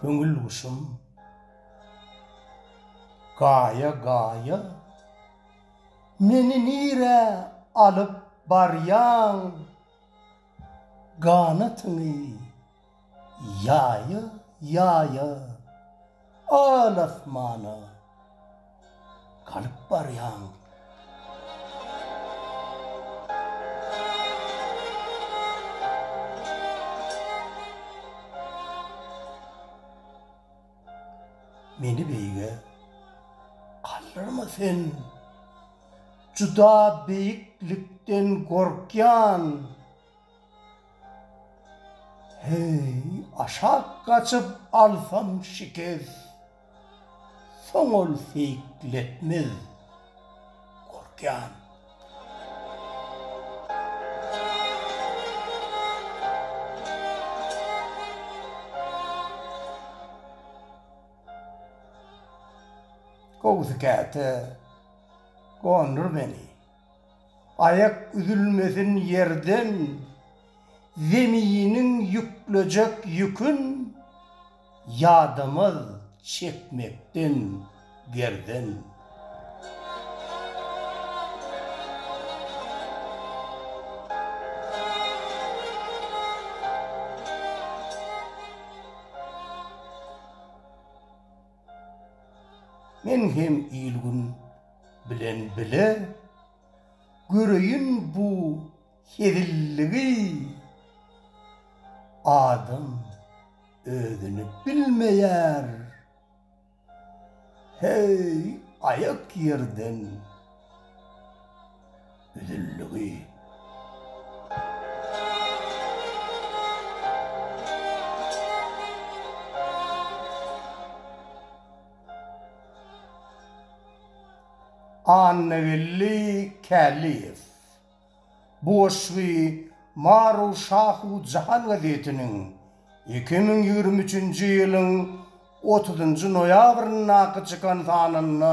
Köňül guşum gaýa gaýa meni nirä alyp barýaň ganatyňy Ýaýa, ýaýa, al-asmana galyp barýaň. Meni beýige galdyrma sen, juda beýiklikden gorkýan. Heý, aşak gaçyp alsam şikes, Soň ol seýikletmez, gorkýan. Gowusy käte gondur meni. Aýak üzülmesin ýerden, Zeminiň ýüklejek ýükün, Ýadamaz çekmekden gerden. Men hem il-gün bilen bile göreýin bu hezilligi Adam özüni bilmeýär Heý aýak ýerden Üzüldigi. Annageldi Käliýew bu goşgy Maru Şahu Jahan gazetiniň iki müň ýigrimi üçünji ýylyň otuzynjy noýabryndaky çykan sanynda